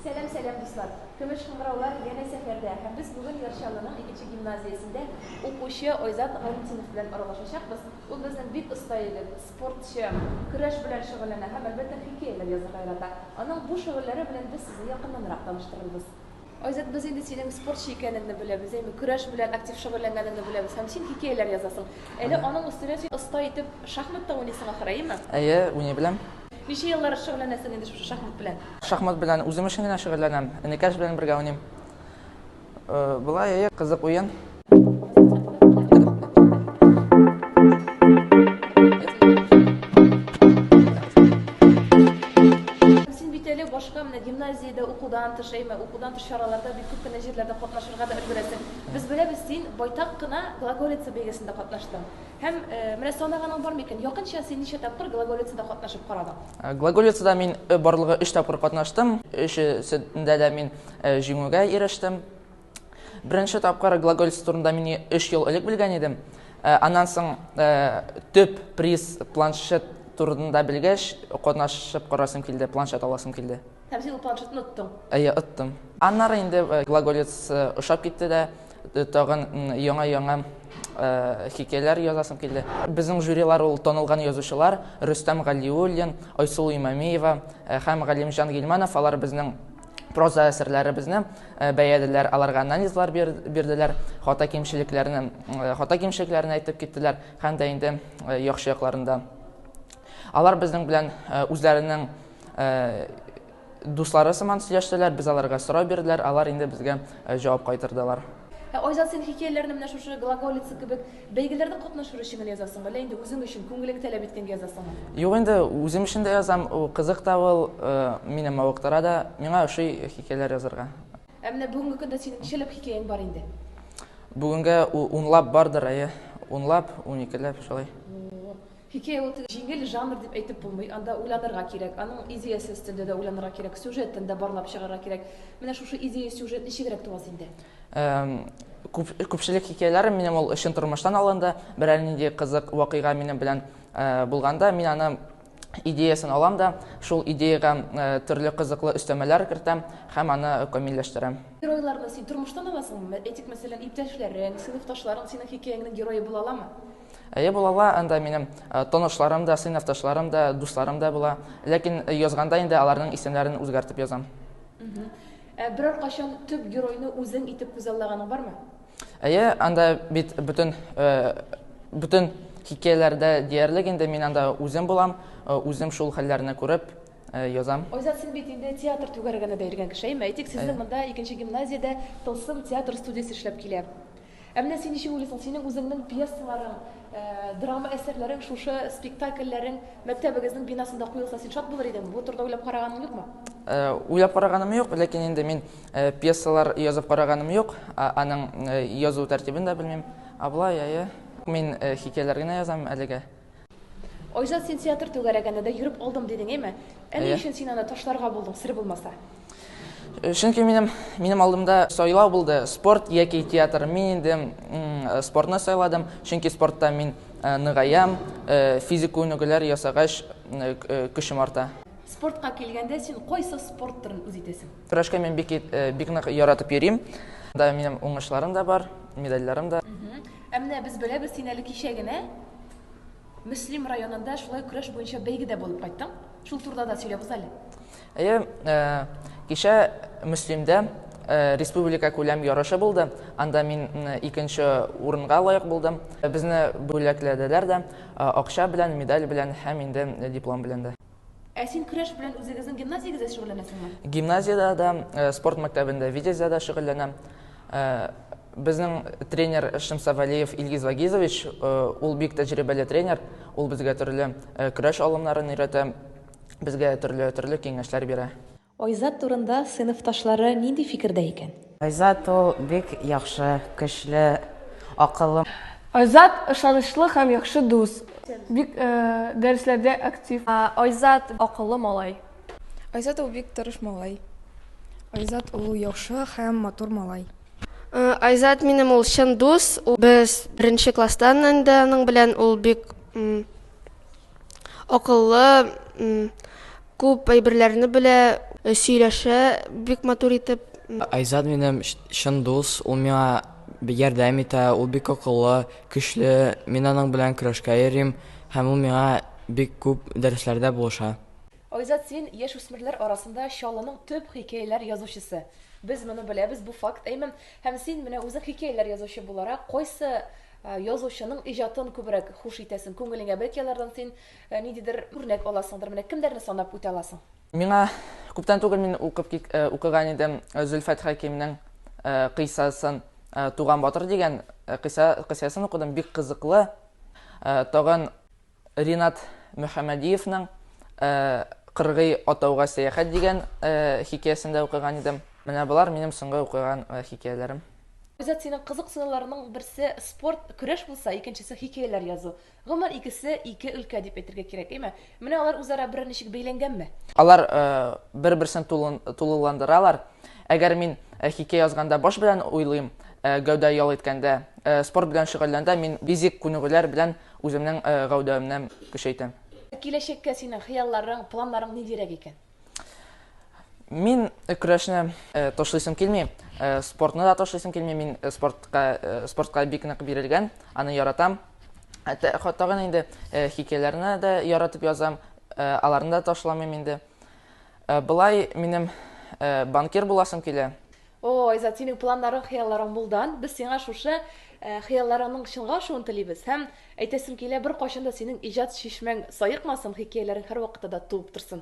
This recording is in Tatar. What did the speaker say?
Сәлам сәлам дуслар! Көмеш кыңгыраулар янә сәфәрдә һәм без бүген Яр Чаллының икенче гимназиясендә укучы Айзат Гайнетдинов белән аралашачакбыз. Ул безнең бик оста егет, спортчы, көрәш белән шөгыльләнә һәм әлбәттә хикәяләр язырга ярата. Аның бу шөгыльләре белән без сезне якыннанрак таныштырырбыз. Айзат, без инде синең спортчы икәнеңне беләбез, әйме, көрәш белән актив шөгыльләнгәнеңне беләбез һәм син хикәяләр язасың. Әле аның өстенә син оста итеп шахмат та уйныйсың ахыр, әйеме? Әйе, уйный беләм. Ничә еллар шөгыльләнәсең инде шушы шахмат белән? Шахмат белән үзем өчен генә шөгыльләнәм. Энекәш белән бергә уйныйм. Болай, әйе, кызык уен. гимназиядә укудан тыш, әйме, укудан тыш чараларда бик күп кенә җирләрдә катнашырга да өлгерәсең. Без беләбез, син байтак кына Глаголица бәйгесендә катнаштың. Һәм, менә санаганың бар микән? Якынча син ничә тапкыр Глаголицада катнашып карадың? Глаголицада мин барлыгы өч тапкыр катнаштым. Өчесендә дә мин җиңүгә ирештем. Беренче тапкыр Глаголица турында мин өч ел элек белгән идем. Аннан соң төп приз планшет турында белгәч, катнашып карасым килде, планшет аласым килде. Һәм син ул планшетны оттың? Әйе, оттым. Аннары инде глаголец ошап китте дә, тагын яңа-яңа хикәяләр язасым килде. Безнең жюрилар ул танылган язучылар, Рөстәм Галиуллин, Айсылу Имамиева һәм Галимҗан Гилманов, алар безнең проза әсәрләребезне бәялиләр, аларга анализлар бирделәр, хата кимчелекләрне, хата кимчелекләрне әйтеп киттеләр һәм дә инде яхшы якларында. Алар безнең белән үзләренең Дуслары сыман сөйләштеләр, без аларга сорау бирделәр, алар инде безгә җавап кайтырдылар. Ә Айзат, син хикәяләрне менә шушы Глаголица кебек бәйгеләрдә катнашыр өчен генә язасыңмы, әллә инде үзең өчен, күңелең таләп иткәнгә язасыңмы? Юк инде, үзем өчен дә язам, кызык та ул, мине мавыктыра да, миңа ошый хикәяләр язарга. Ә менә бүгенге көндә синең ничәләп хикәяң бар инде? Бүгенгә унлап бардыр, әйе, унлап, уникеләп, шулай. Хикәя ул тик җиңел жанр дип әйтеп булмый. Анда уйланырга кирәк. Аның идеясен өстендә дә уйланырга кирәк, сюжетын да барлап чыгарга кирәк. Менә шушы идея-сюжет ничегрәк туа синдә? Күпчелек хикәяләрем минем ул чын тормыштан алынды. Берәр нинди кызык вакыйга минем белән булганда, мин аны идеясын алам да, шул идеягә төрле кызыклы өстәмәләр кертәм һәм аны камилләштерәм. Геройларны син тормыштан аласыңмы? Әйтик, мәсәлән, иптәшләрең, сыйныфташларың синең хикәяңнең герое була аламы? Әйе, булала, анда минем э, тонышларым да, сыйныфташларым да, дусларым да була. Ләкин э, язганда инде аларның исемнәрен үзгәртеп язам. Ә берәр кашан төп геройны үзең итеп күзаллаганың бармы? Әйе, анда бит бөтен э, бөтен хикәяләрдә диярлек инде мин анда үзем булам, үзем шул хәлләрне күреп язам. Айзат, син бит инде театр түгәрәгенә дә йөргән кеше, әйтик, сезнең монда икенче гимназиядә Тылсым театр студиясе эшләп килә. Ә менә син ничек уйлыйсың, синең үзеңнең пьесаларың, драма әсәрләрең шушы спектакльләрең мәктәбегезнең бинасында куелса, син шат булыр идеңме? Бу турыда уйлап караганың юкмы? Уйлап караганым юк, ләкин инде мин пьесалар язып караганым юк, аның язу тәртибен дә белмим. Ә болай, әйе. Мин хикәяләр генә язам әлегә. Айзат, син театр түгәрәгенә дә йөреп алдым дидең, әйме? Ә ни өчен син аны ташларга булдың, сер булмаса? Чөнки минем минем алдымда сайлау булды, спорт яки театр. Мин инде спортны сайладым, чөнки спортта мин ныгаям, физик күнегүләр ясагач көчем арта. Спортка килгәндә, син кайсы спорт төрен үз итәсең? Көрәшкә мин бик бик нык яратып йөрим. Да минем уңышларым да бар, медальләрем дә. Ә менә без беләбез, син әле кичә генә Мөслим районында шулай көрәш буенча бәйгедә булып кайттың. Шул турыда да сөйләп уза әле. Әйе, э, кичә Мөслимдә э, республика күләм ярышы булды. Анда мин икенче урынга лаек булдым. Безне бүләкләделәр дә, э, акча белән, медаль белән һәм инде диплом белән дә. Ә син көрәш белән үзегезнең гимназиягездә шөгыльләнәсеңме? Гимназиядә дә, э, спорт мәктәбендә, Витязьдә дә шөгыльләнәм. Э, безнең тренер Шымса Валиев Илгиз Вагизович, э, ул бик тәҗрибәле тренер. Ул безгә төрле көрәш алымнарын өйрәтә, безгә төрле төрле киңәшләр бирә. Айзат турында сыйныфташлары нинди фикердә икән? Айзат ул бик яхшы, көчле, акыллы. Айзат, ышанычлы һәм яхшы дус. Бик дәресләрдә актив. Айзат, акыллы малай. Айзат ул бик тырыш малай. Айзат ул яхшы һәм матур малай. Айзат минем ул чын дус. Без беренче класстан инде аның белән. Ул бик акыллы. Күп әйберләрне белә, сөйләшә бик матур итеп. Айзат минем чын дус, ул миңа ярдәм итә, ул бик акыллы, көчле, мин аның белән көрәшкә йөрим һәм ул миңа бик күп дәресләрдә булыша. Айзат син, яшүсмерләр арасында Чаллының төп хикәяләр язучысы. Без моны беләбез, бу факт, әймен. Һәм син менә үзең хикәяләр язучы буларак, кайсы язучының иҗатын күбрәк хуш итәсең, күңелеңә бәлки алардан син Ниндидер үрнәк аласыңдыр, менә кемнәрне санап үтә аласың? Миңа күптән түгел мин укып укыган идем Зөлфәт Хәкимнең кыйсасын Туган батыр дигән кыйса кыйсасын укыдым, бик кызыклы. Тагын Ринат Мөхәммәдиевның Кыргый атауга сәяхәт дигән хикәясен дә укыган идем. Менә болар минем соңгы укыган хикәяләрем. Айзат, синең кызыксынуларның берсе спорт, көрәш булса, икенчесе хикәяләр язу. Гомумән, икесе ике өлкә дип әйтергә кирәк, әйме? Менә алар үзара берәр ничек бәйләнгәнме? Алар бер-берсен тулыландыралар. Әгәр мин хикәя язганда баш белән уйлыйм, гәүдә ял иткәндә, спорт белән шөгыльләндә мин физик күнегүләр белән үземнең гәүдәемне көчәйтәм. Киләчәккә синең хыялларың, планнарың ниндирәк икән? Мин көрәшне ташлыйсым килми, спортны да ташлыйсым килми. Мин спортка спортка бик нык бирелгән, аны яратам. Тагын инде хикәяләрне дә яратып язам, аларны да ташламыйм инде. Былай минем банкир буласым килә. О, Айзат, синең планнарың, хыялларың булдан. Без сиңа шушы хыялларыңның чынга ашуын телибез һәм әйтәсем килә, беркайчан да синең иҗат чишмәң саекмасын, хикәяләрең һәрвакытта да туып торсын.